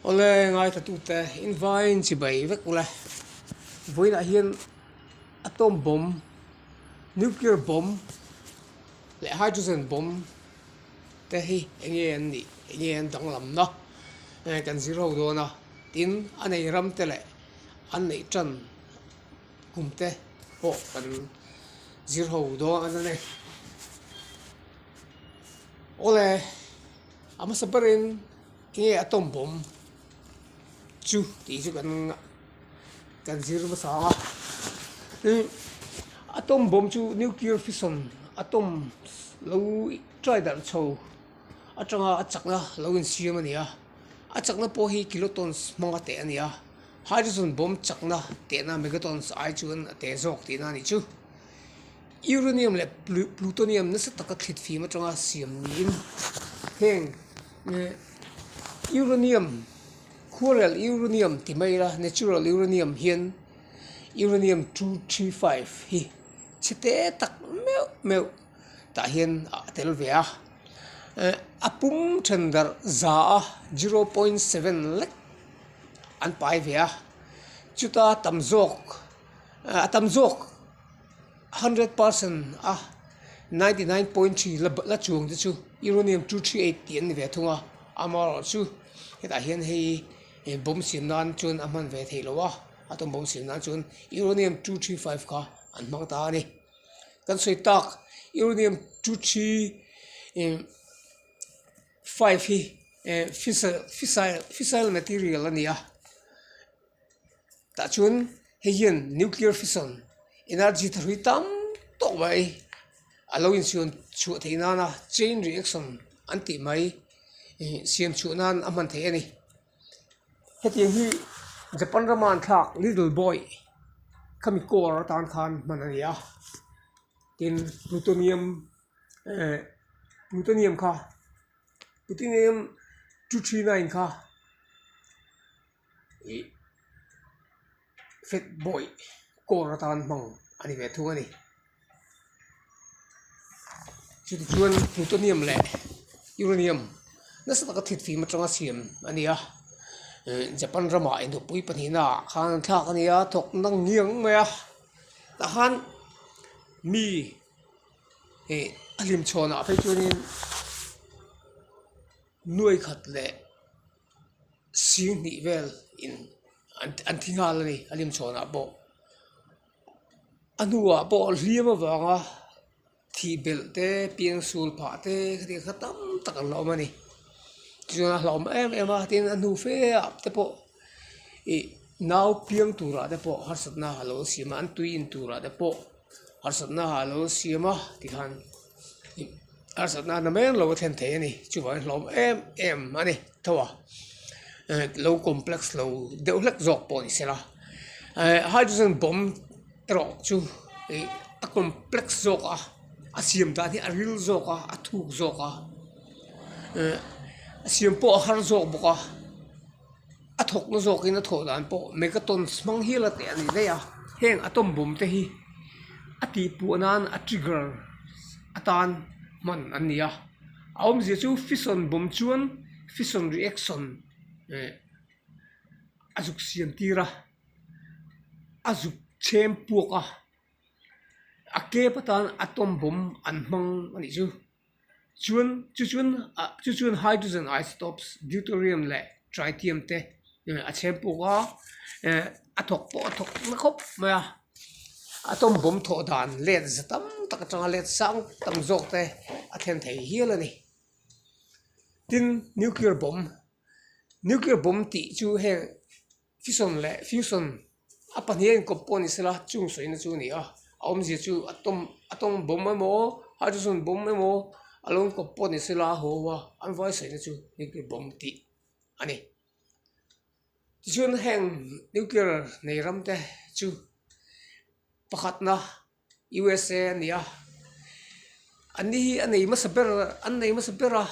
Awle ngaithatute invaiin chibai vek u la, vawiinah hian atom bomb, nuclear bomb leh hydrogen bomb te hi eng nge an nih eng nge an danglam na hei kan zir ho dawn a, tin a nei ram te leh an neih tan kum te pawh kan zir ho dawn a ni. Awle, a hmasa berin enge a tawngpawm chu tih chu kan kan zir nasa ang a, tin a tawngpawm chu nuclear fission atom lo try darh chho atanga a chakna lo insiam a ni a, a chakna pawh hi kilotons hmanga teh a ni a, hydrogen bomb chakna tehna megatons ai chuan a teh zawk tihna a nih chu. Uranium leh plutonium nasa taka thlit fim atanga siam niin heng uranium khualrel uranium ti mai ila natural uranium hian uranium two three five hi chhete tak meuh meuh tah hian a tel ve a eh a pum then darh za a zero point seven lek an pai ve a chuta tam zawk a tam zawk-- hundred percent a ninety nine point three la la chuang te chu uranium two three eight tih an ni ve thung a amaherawhchu chu hetah hian hei e bawm siam nan chuan a hman ve thei loh a atombawm siam nan chuan uranium two three five kha an hmang ta a ni kan sawi tak uranium two three eh five hi eh fissile fissile fissile material a ni a. tah chuan hei hian nuclear fission energy tharhui tam tawk mai a lo inchhuan chhuah theih nan a chain reaction an tih mai ih siam chhuah nan a hman theih a ni hetiang hi japan rama an thlak little boy khami core atan khan hman a ni a tin plutonium eh plutonium kha plutonium two three nine kha. ih fat boy kawr atan hmang a ni ve thung a ni chutah chuan plutonium leh uranium nasa taka thit fîm aṭanga siam a ni a eh Japan rama enawpui pahnihna ah khan an thlak a ni a thawkna ngiang mai a tah khan mi ih a hlim chhawnah phei chuan in nuaikhat leh-- sir hnih vel in an an thi nghal a ni a hlim chhawn ah pawh a hnungah pawh a hliam avang a thih belh te pian sul phah te thil kha tam tak an lo awm a ni tichuan a hlawm em em a tin a hnu fe ah te pawh ih nau piang tur ah te pawh harsatna a lo siam a an tui in tur ah te pawh harsatna ah alo siam a ti khan harsatna na mek lo a thlen thei a ni chuvang in hlawm em em a ni tho a eh lo complex lo deuh hlek zawk pawh a ni sela eh hydrogen bomb erawh chu ih a complex zawk a a siam dan hi a ril zawk a a thuk zawk a eh a siam pawh a har zawk bawk a. a thawkna zawkin a thawh dan pawh megatons hmang hial a teh a ni daih a heng atom bomb te hi a tihpuah nan a trigger atan hman an ni a a awmzia chu fission bomb chuan fission reaction eh a zuk siam tir a a zuk chhem puak a a kep atan atom bomb an hmang a nih chu. Chuan, chu chuan, a, chu chuan hydrogen isotopes, deuterium leh tritium te, eh, a chhem puk a, eh, a thawk pawh a thawk nasa khawp mai a. Atom bomb thawh dan let za tam tak atanga let sang tak zawk te a thlen thei hial a ni. Tin, nuclear bomb, nuclear bomb tih chu heng, Fison leh Fusion a pahnihin an kawp pawh a ni sela chung sawi na chu a ni a a awmzia chu a tawng a tawng bawm emaw hydrogen bawm emaw a lo awm kawp pawh a ni sela haw an vai sawi na chu nuclear bawm tih a ni tichuan heng nuclear nei ram te chu pakhatna. usa a ni a, an ni hi a nei hmasa ber an nei hmasa ber a,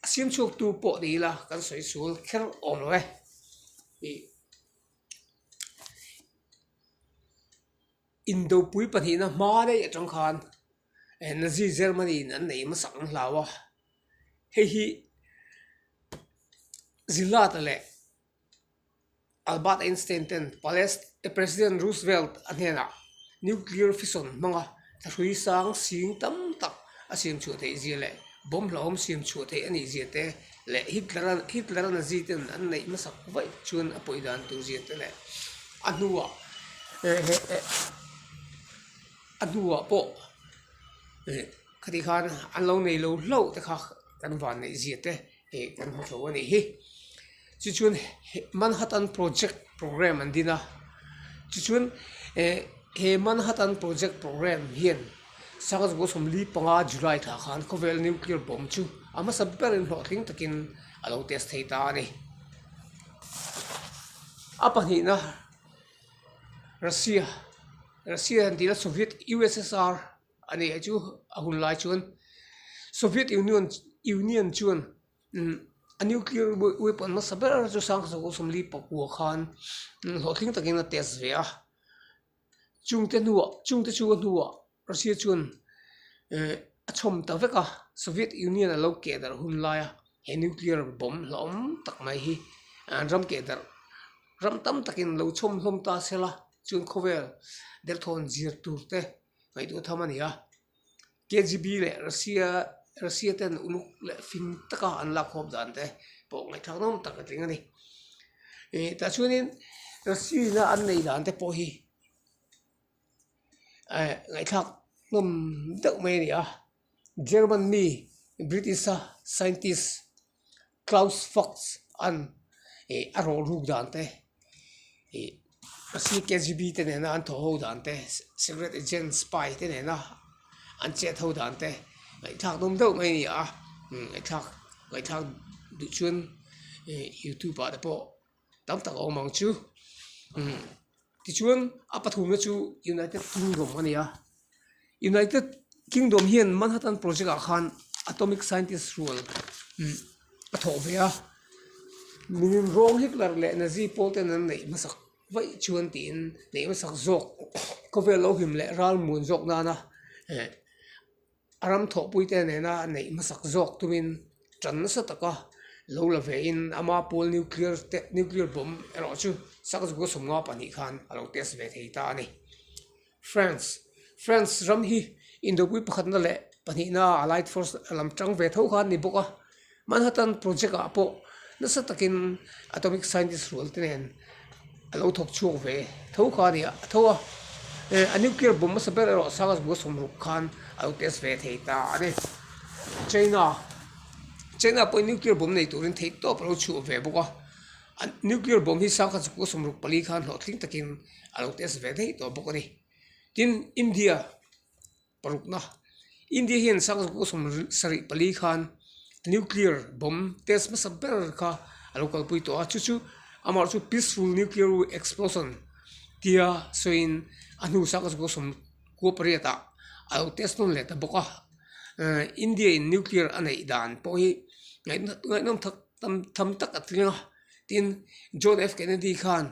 a siam chhuak tu pawh ni ila kan sawi chhul kher awm lo e. Indopui pahnihna hma daih atang khan eh Nazi Germany in an nei hmasak ang hlau a, hei hi zirlata leh, Albert Einstein ten palest President Roosevelt a hnenah nuclear fission hmanga thahrui sang sing tam tak a siam chhuah theih zia leh bomb hlauhawm siam chhuah theih a nih zia te leh Hitler a Nazi ten an neih hmasak vaih chuan a pawi dan tur zia te leh a hnuah a hnuah pawh khati khan an lo nei lo hlauh te kha kan van neih zia te. ih kan hmu thlo anih hi chu chuan manhattan project programme an din a chu chuan eh he manhattan project programme hian sanga zawh zawh sawmli panga july thla khan khawvel nuclear bomb chu a hmasa ber in hlawh tling takin a lo test thei ta a ni a pahnihna russia russia han tihna soviet ussr A ni hi chu a hun lai chuan Soviet Union Union chuan umm a nuclear weapon hmasa ber chu Sanghachaw Kawlsawmli pakua khan hlawhtling takin a test ve a chungte hnuah chungte chunga hnuah Russia chuan ehh a chhawm ta vek a Soviet Union a lo keh darh hun lai a he nuclear bomb hlauhawm tak mai hi an ram keh darh ram tam takin lo chhawm hlawm ta sela chuan khawvel derthawn zir tur te. Ngaihtuah tham a ni a, KGB leh Russia Russia ten uluk leh fim taka an lak khawm dan te pawh ngaihtuah nawm tak a tling a ni. Ih tah chuanin Russia ina an nei dan te pawh hi eh ngaihthlak nawm deuh mai a ni a. German mi British a scientist Klaus Fuchs an ih a rawh ruk dan te, ih a sir KGB te nena an thaw ho dan te, secret agent spy te nena an chet ho dan te ngaihthlak dum deuh mai a ni a, ngaihthlak ngaihthlak duh chuan ih youtube ah te pawh-- tam tak a awm ang chu imm tichuan a pathumna chu United Kingdom a ni a United Kingdom hian Manhattan Project ah khan atomic scientist rual imm a thawh ve a miin rawng Hitler leh Nazi pawl ten an neih hmasak vaih chuan tiin neih hmasak zawk khawvel lo him leh ralmuan zawk nana eh-- a ram thawhpui te nena neih hmasak zawk tumin tan nasa taka lo la ve in ama pawl nuclear te nuclear bomb erawh chu sak zuka sawmnga pahnih khan a lo test ve thei ta a ni france france ram hi indo pui pakhatna leh pahnihna a light force a lam tang ve tho khan a ni bawk a. Manhattan Project ah pawh nasa takin atomic scientist rual te nen a lo thawk chhuak ve tho kha a ni a tho a, a nuclear bomb hmasa ber erawh sang a zbua sawm ruk khan a lo test ve thei ta a ni. China China pawhin nuclear bomb nei turin theih tawp a lo chhuah ve bawk a, a nuclear bomb hi sang kha zbua sawm ruk pali khan hlawhtling takin a lo test ve daih tawh bawk a ni. Tin India. parukna India hian sang zo pawh sawm sarih pali khan nuclear bomb test hmasa ber kha a lo kalpui tawh a chu chu amah chu peaceful nuclear explosion tia sawi in a hnu sang zo pawh sawm kua pariat ah a lo test dawn leh ta bawk a ehh India in nuclear a neih dan pawh hi ngaih nawm tak tam tham tak a tling a tin John F Kennedy khan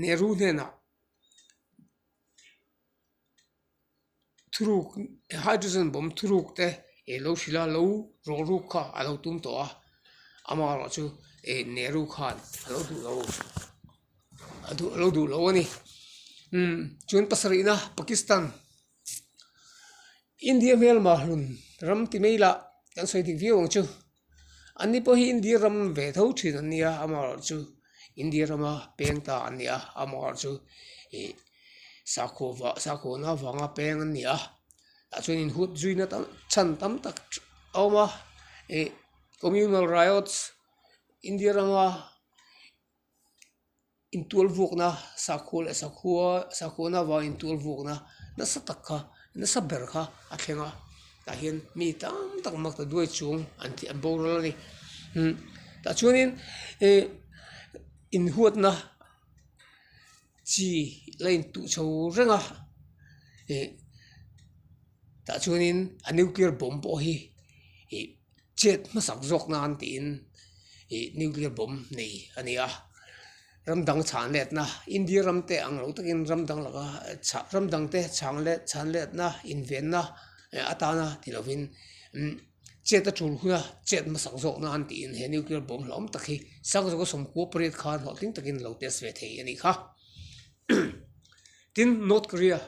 Nehru hnenah thurûk hydrogen bawm thurûk te ih lo hril a lo rawlrûk kha a lo tum tawh a ama erawh chu ih nehru khan a lo duh lo a duh a lo duh lo a ni umm chuan pasarihna pakistan india hmel mahlun ram ti mai lah kan sawi dik viau ang chu. Ani pawh hi India ram ve tho thin an nia amah erawh chu India rama peng ta an ni a amah erawh chu ih sakhaw vah sakhaw na vanga peng an ni a tah chuan inhut zui na tam chhan tam tak a awm a ih communal riots India rama-- intual vuakna sakhaw leh sakhawa sakawna vang intual vuakna nasa tak kha nasa ber kha a thleng a tah hian mi tam tak makta duai chung an tih an boral a ni tah chuanin ih inhuatna chi la intuh chho reng a ih tah chuanin a nuclear bomb pawh hi ih-- chet hmasak zawk nan tiin ih nuclear bomb nei a ni a, ram dang chhan let na India ram te ang lo takin ram dang laka chhah ram dang te chhang let chhan let na in ven na eh atana ti lo in umm chet a tul hun a chet hmasak zawk nan tiin he nuclear bomb hlawm tak hi sang zo ka sawmkua pariat khan hlawhtling takin lo test ve thei a ni kha. tin north korea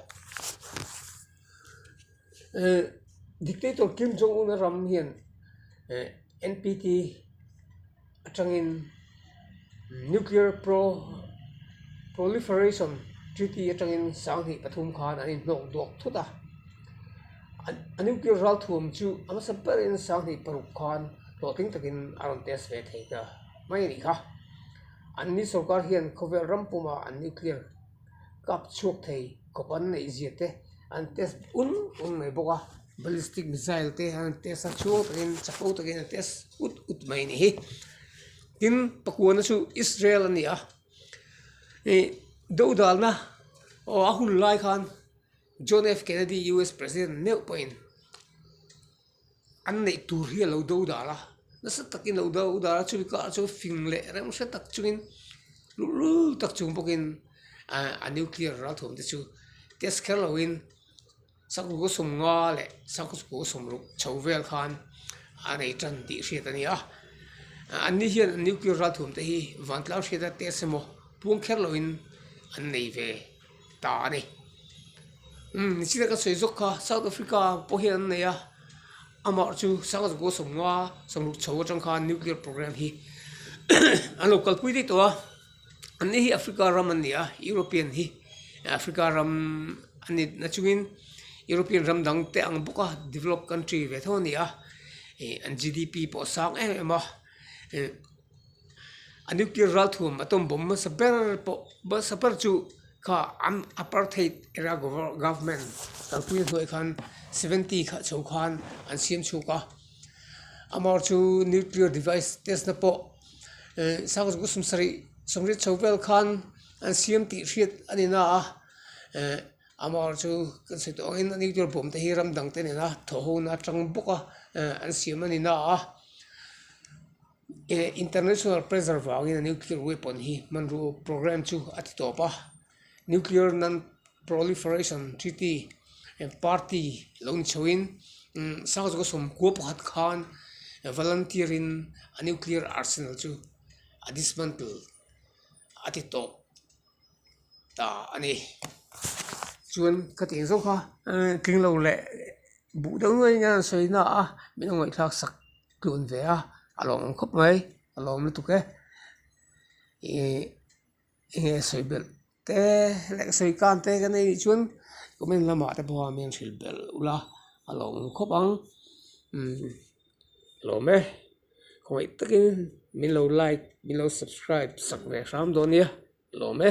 ehh dictator kim jong un a ram hian ehh npt atangin nuclear pro proliferation treaty atangin sang hnih pathum khan an inhnawk duak thut a a nuclear ral thuam chu a hmasa ber in sang hnih paruk khan hlawhtling takin a rawn test ve thei ta mai a ni kha. An ni sorkar hian khawvel ram pumah an nuclear kap chhuak thei khawp an neih zia te an test bun bun mai bawk a ballistic missile te hian an test a chhuak takin chapho takin an test ut ut mai a nih hi tin pakua chu Israel a ni a ih deuh dalna aw a hun lai khan John F Kennedy US president meuh pahin. an neih tur hi a lo do dar a nasa takin a lo do dar a chumi karah chuan fing leh rem hre tak chungin luh luh tak chung bawkin ahh a nuclear ral thuam te chu test kher loin sakawr kaw sawm nga leh sakawr kaw sawm ruk chho vel khan a nei tan tih hriat a ni a an ni hian nuclear ral thuam te hi vantlar hriat a test emaw puang kher loin an nei ve. ta a ni umm ni sina ka sawi zawk kha south africa pawh hian an nei a amah chu sanga zawk pawh a sawmnua a sawmruk chho atang khan nuclear programme hi an lo kalpui daih tawh a an ni hi africa ram an ni a european hi africa ram a ni na chungin european ram dang te ang bawk a develop country ve thung a ni a ih an G_D_P pawh a sang em em a ih-- a nuclear ral thuam atom bomb hmasa ber pawh hmasa ber chu kha an apartheid era government kalpui a hnuai khan seventy kha chho khan an siam chhuk a amarawh chu nuclear device test na pawh eh sang chu ka sawm sarih sawm riat chho vel khan an siam tih hriat a ni na a eh amarawh chu kan sawi tawh ang in a nuclear bomb te hi ram dangte nena thawhhuna a chang bawk a eh an siam a ni na a. Eh, international pressure vangin a nuclear weapon hi hmanru program chu a ti tawp a. Nuclear Non-Proliferation Treaty eh, party lo ni chhoin umm sang chu ka sawm kua pakhat khan volunteer in a nuclear arsenal chu a dismantle a ti tawp ta a ni. Chuan ka ti ang zauh kha, tling lo leh buh deuh nuaih in a rawn sawi ina a minung ngaih thlak sak-- tlun ve a a lawm ang khawp mai a lawm lutuk e ihh enge sawi belh te leh sawi kan te kan nih chuan comment lama te pawh a mian hril belh ula a lawm ang khawp ang umm a lawm e khawngaih takin min lo like min lo subscribe sak ve hram dawn nia a lawm e.